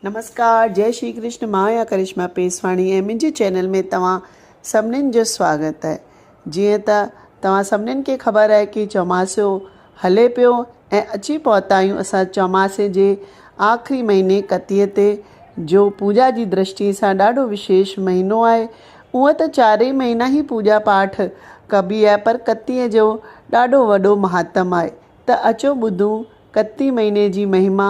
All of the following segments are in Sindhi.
نمسڪار جئي شري ڪرشن مان آهيان ڪرشما پيسواڻي ۽ منهنجي چينل ۾ توهان سڀنين جو سواگت آهي جيئن ته توهان سڀنين کي خبر آهي ڪي چوماسو هلي پيو ۽ اچي پهتا آهيون اسان چوماسي جي آخري مهيني ڪتيء تي جو پوڄا جي درشٽي سان ڏاڍو وشيش مهينو آهي اونء ته چارئي مهينا هي پوڄا پاٺ ڪبي آهي پر ڪتيء جو ڏاڍو وڏو مهاتم آهي ته اچو ٻڌون ڪتي مهيني جي مهما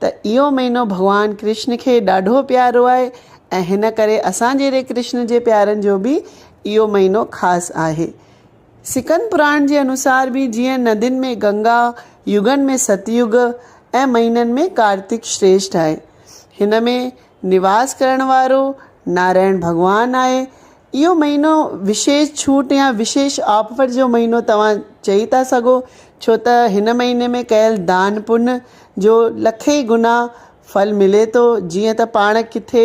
ته اهو مهينو ڀڳوان ڪرشن کي ڏاڍو پيارو آهي ۽ هن ڪري اسان جهڙي ڪرشن جي پيارن جو به اهو مهينو خاص آهي. سڪند پراڻ جي انوسار به جيئن ندين ۾ گنگا، يگن ۾ ست يگ ۽ مهينن ۾ ڪارتڪ شريشٺ آهي. هن ۾ نواس ڪرڻ وارو نارائڻ ڀڳوان آهي اهو مهينو وشيش ڇوٽ يا وشيش آفر جو مهينو توهان چئي ٿا سگهو ڇو ته هن مهيني ۾ ڪيل دان پن جو لکين گنا ڦل ملي ٿو جيئن ته پاڻ ڪٿي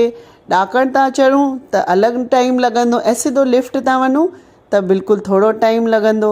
ڏاڪڻ تان چڙهون ته الڳ ٽائيم لڳندو ۽ سڌو لفٽ تان وڃون ته بلڪل ٿورو ٽائيم لڳندو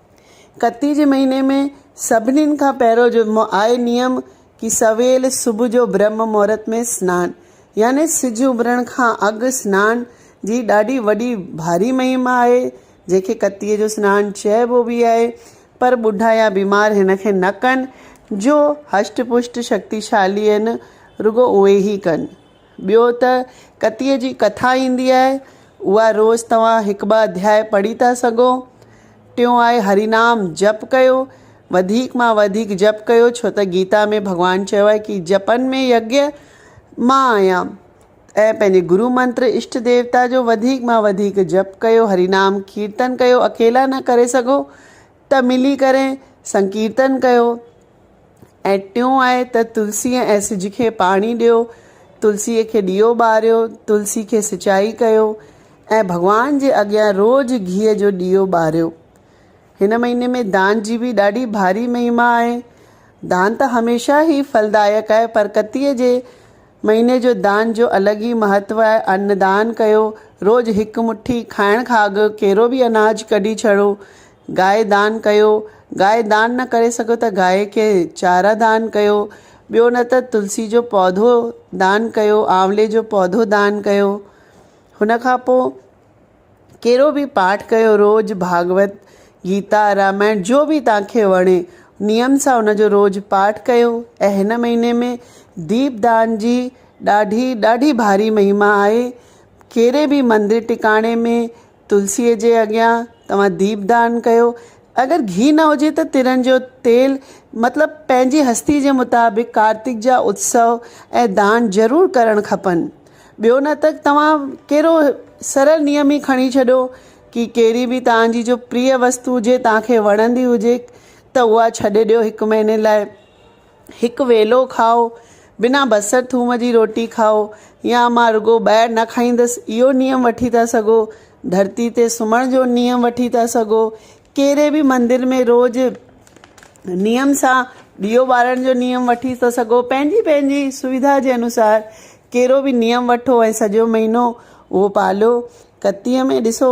ڪتي جي مهيني ۾ سڀنين کان پهريون جمعو آهي نيم ڪي سويل صبح جو برهم مهورت ۾ سنان يعني سج اڀرڻ کان اڳ سنان جي ڏاڍي وڏي ڀاري مهيم آهي جنهن کي ڪتي جو سنان چئبو به آهي پر ٻڍا يا بيمار هن کي نه ڪن جو هشٽ پشٽ شڪتيشالي آهن رڳو اهي ئي ڪن ٻيو ته ڪتيء جي ڪٿا ايندي آهي، اها روز توهان هڪ ٻه اڌياء پڙهي ٿا سگهو. ٽيون آهي هري نام جپ ڪيو، وڌيڪ مان وڌيڪ جپ ڪيو، ڇو ته گيتا ۾ ڀڳوان چيو آهي ڪي جپن ۾ يگيا مان آهيان ۽ پنهنجي گرو منتر اشٽ ديوتا جو وڌيڪ مان وڌيڪ جپ ڪيو، هري نام ڪيرتن ڪيو، اڪيلا نه ڪري سگهو ته ملي ڪري سنڪيرتن ڪيو. ۽ ٽيون آهي ته تلسيء ۽ سج کي پاڻي ڏيو، تلسيء کي ڏيئو ٻاريو، تلسي کي سچائي ڪيو ۽ ڀڳوان جي اڳيان روز گيهه جو ڏيئو ٻاريو. هن مهيني ۾ دان جي به ڏاڍي ڀاري مهما آهي. دان ته هميشه ئي ڦلدائڪ آهي پر ڪتيء جي مهيني جو دان جو الڳ ئي مهتو آهي. ان دان ڪيو، روز هڪ مٺي کائڻ کان اڳ ڪيرو به اناج ڪڍي ڇڏو، گائي دان ڪيو، گائي دان نه ڪري سگهيو ته گائي کي چاره دان ڪيو، ٻيو نه ته تلسي جو پوڌو دان ڪيو، آنولي جو پوڌو دان ڪيو. هن کان پوء ڪهڙو به پاٺ ڪيو روز ڀاڳوت، گيتا، رامائڻ جو به توهان کي وڻي نيم سان ان جو روز پاٺ ڪيو ۽ هن مهيني ۾ ديپ دان جي ڏاڍي ڏاڍي ڀاري مهما آهي. ڪهڙي به مندر ٽڪاڻي ۾ تلسيء جي اڳيان توهان ديپ دان ڪيو. اگر گهي نه هجي ته ترن جو تيل، مطلب پنهنجي هستي جي مطابق ڪارتڪ جا اتسو ۽ دان ضرور ڪرڻ کپن. ٻيو نه ته توهان ڪهڙو سرل نيم ئي کڻي ڇڏيو ڪي ڪهڙي به توهان جي جو پريء وستو هجي، توهان کي وڻندي هجي ته اها ڇڏي ڏيو هڪ مهيني لاء. هڪ ويلو کائو، بنا بصر ٿوم جي روٽي کائو يا مان رڳو ٻاهر نه کائيندس اهو نيم وٺي ٿا سگهو، ڌرتي تي سمهڻ جو نيم وٺي ٿا سگهو، ڪهڙي به مندر ۾ روز نيم سان ڏيئو ٻارڻ جو نيم وٺي ٿا سگهو، پنهنجي پنهنجي سويڌا جي انوسار ڪهڙو به نيم وٺو ۽ سڄو مهينو اهو پاليو، ڪتيء ۾ ڏسو